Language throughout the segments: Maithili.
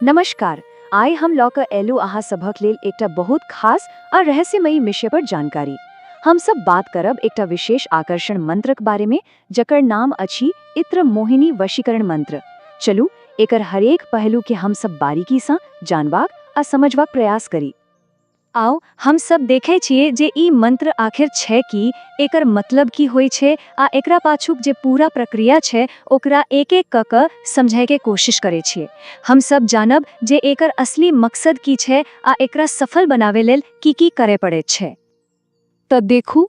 नमस्कार आय हम लऽ कऽ एलू अहाँ सभक लेल एकटा बहुत खास आ रहस्यमयी विषय पर जानकारी हम सब बात करब एकटा विशेष आकर्षण मंत्रक बारे में जकर नाम अछि इत्र मोहिनी वशीकरण मंत्र चलू एकर हरेक पहलू के हम सब बारीकी सँ जानबाक आ समझबाक प्रयास करी आउ हम सब देखै छिऐ जे ई मंत्र आखिर छै की, एकर मतलब की होइ छै, आ एकरा पाछूक जे पूरा प्रक्रिया छै ओकरा एक-एक कऽ कऽ समझैके कोशिश करै छिऐ। हम सब जानब जे एकर असली मकसद की छै आ एकरा सफल बनाबै लेल की-की करै पड़ैत छै। तऽ देखू,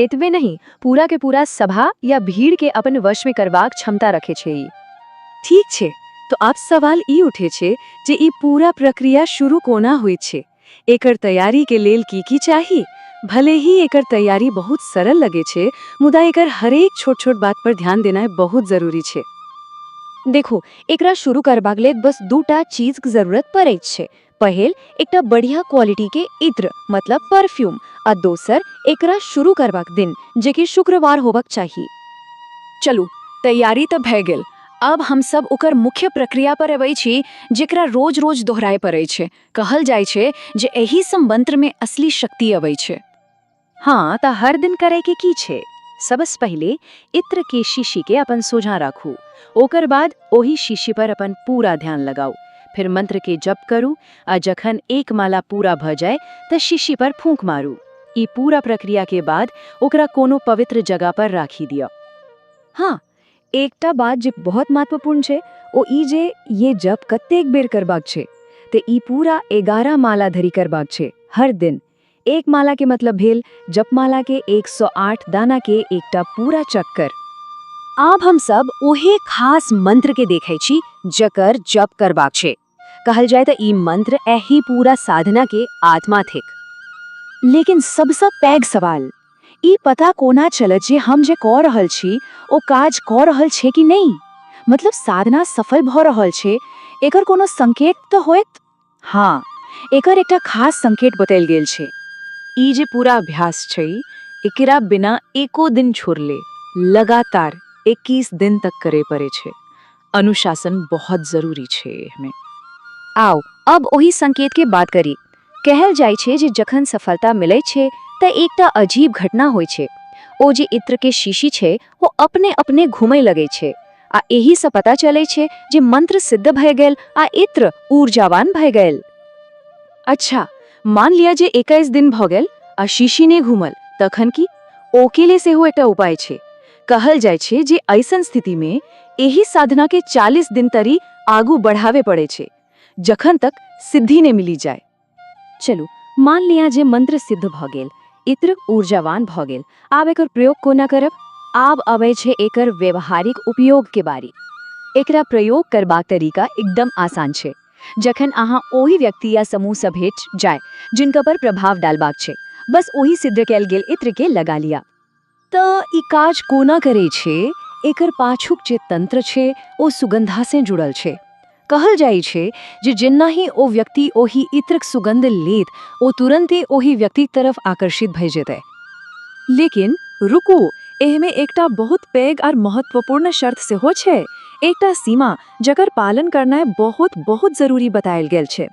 एतबे नहि, पूरा के पूरा सभा या भीड़ के अपन वश में करबाक क्षमता रखे छै ई। ठीक छै, त आब सवाल ई उठे छै जे ई पूरा प्रक्रिया शुरू कोना होइत छै? एकर तैयारी के लेल की-की चाही? भले ही एकर तैयारी बहुत सरल लगे छै, मुदा एकर हरेक छोट-छोट बात पर ध्यान देनाय बहुत जरूरी छै। देखू, एकरा शुरू करबाक लेल बस दू टा चीज क जरूरत पड़ैत छै, पहिल एकटा बढ़िया क्वालिटी के इत्र मतलब परफ्यूम आ दोसर एकरा शुरू करबाक दिन जे कि शुक्रवार होबक चाही चलू तैयारी तऽ भए गेल अब हम सब ओकर मुख्य प्रक्रिया पर अबै छी जेकरा रोज रोज दोहराए पड़ै छै कहल जाइ छै जे एहि सँ मंत्र में असली शक्ति अबै छै हाँ त हर दिन करे के की छे सबस पहले इत्र के शीशी के अपन सोझा राखू ओकर बाद ओही शीशी पर अपन पूरा ध्यान लगाऊ फिर मंत्र के जप करू आ जखन एक माला पूरा भ जाए त शीशी पर फूंक मारू ई पूरा प्रक्रिया के बाद ओकरा कोनो पवित्र जगह पर राखी दिया हाँ एकटा बात जे बहुत महत्वपूर्ण छे ओ ई जे ये जप कतेक बेर करबाक छे ते ई पूरा एगारह माला धरी करबाक छे हर दिन एक माला के मतलब भेल जपमाला के 108 दाना के एकटा पूरा चक्कर आब हम सब ओहे खास मंत्र के देखे छी जकर जप करबाक छे कहल जाए त ई मंत्र एही पूरा साधना के आत्मा थिक लेकिन सबसे पैघ सवाल ई पता कोना चलत जे हम जे कह रहल छी ओ काज कह रहल छे कि नहीं मतलब साधना सफल भ रहल छे एकर कोनो संकेत त होयत हाँ एकर एकटा खास संकेत बतायल गेल छै ई जे पूरा अभ्यास छै एकरा बिना एको दिन छोड़ले लगातार 21 दिन तक करे पड़े छै अनुशासन बहुत जरूरी छै एहमे आउ अब ओहि संकेत के बात करी कहल जाय छै जे जखन सफलता मिले छै त एकटा अजीब घटना होय छै ओ जे इत्र के शीशी छै ओ अपने अपने घुमै लगै छै आ एहि सँ पता चलै छै जे मंत्र सिद्ध भय गेल आ इत्र ऊर्जावान भय गेल अच्छा मान लिया जे एकैस दिन भऽ गेल आ शीशी नहि घूमल तखन की ओके ले सेहो एकटा उपाय छै कहल जाइ छै जे ऐसन स्थिति में एहि साधना के चालीस दिन तरी आगू बढ़ावे पड़े छै जखन तक सिद्धि नहि मिली जाय चलू मान लिया जे मंत्र सिद्ध भ गेल इत्र ऊर्जावान भ गेल आब एकर प्रयोग कोना करब आब अबै छै एकर व्यवहारिक उपयोग के बारी एकरा प्रयोग करबाक तरीका एकदम आसान छै जखन अहाँ ओहि व्यक्ति या समूह से भेट जाय जिनका पर प्रभाव डालबाक छै बस ओहि सिद्ध कैल गेल इत्र के लगा लिया त ई काज कोना करै छै एकर पाछूक जे तंत्र छै ओ सुगंधासँ जुड़ल छै। कहल जाइ छै जे जेनाहि ओ व्यक्ति ओहि इत्रक सुगंध लेत ओ तुरंते ओहि व्यक्तिक तरफ आकर्षित भए जेतै। लेकिन रुकू, एहिमे एकटा बहुत पैघ आर महत्वपूर्ण शर्त सेहो छै, एकटा सीमा जकर पालन करनाइ बहुत-बहुत जरूरी बताएल गेल छै।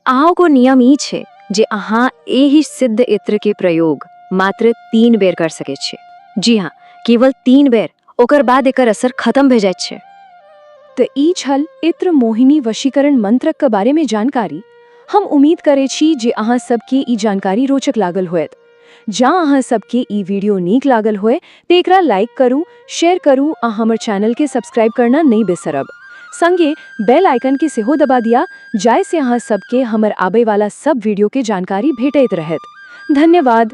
अहाँको नियम ई छै जे अहाँ एहि सिद्ध इत्रके प्रयोग मात्र तीन बेर कर सकैत छी जी हँ केवल तीन बेर ओकर बाद एकर असर खतम भए जाइत छै तऽ ई छल इत्र मोहिनी वशीकरण मंत्रक बारेमे जानकारी हम उम्मीद करै छी जे अहाँ सबके ई जानकारी रोचक लागल होयत जँ अहाँ सबके ई वीडियो नीक लागल होय तऽ एकरा लाइक करू शेयर करू आ हमर चैनल के सब्सक्राइब करना नहि बेसरब संगे बेल आइकन के सेहो दबा दिया जाय से अहाँ सबके हमर आबय वाला सब वीडियो के जानकारी भेटैत रहैत धन्यवाद।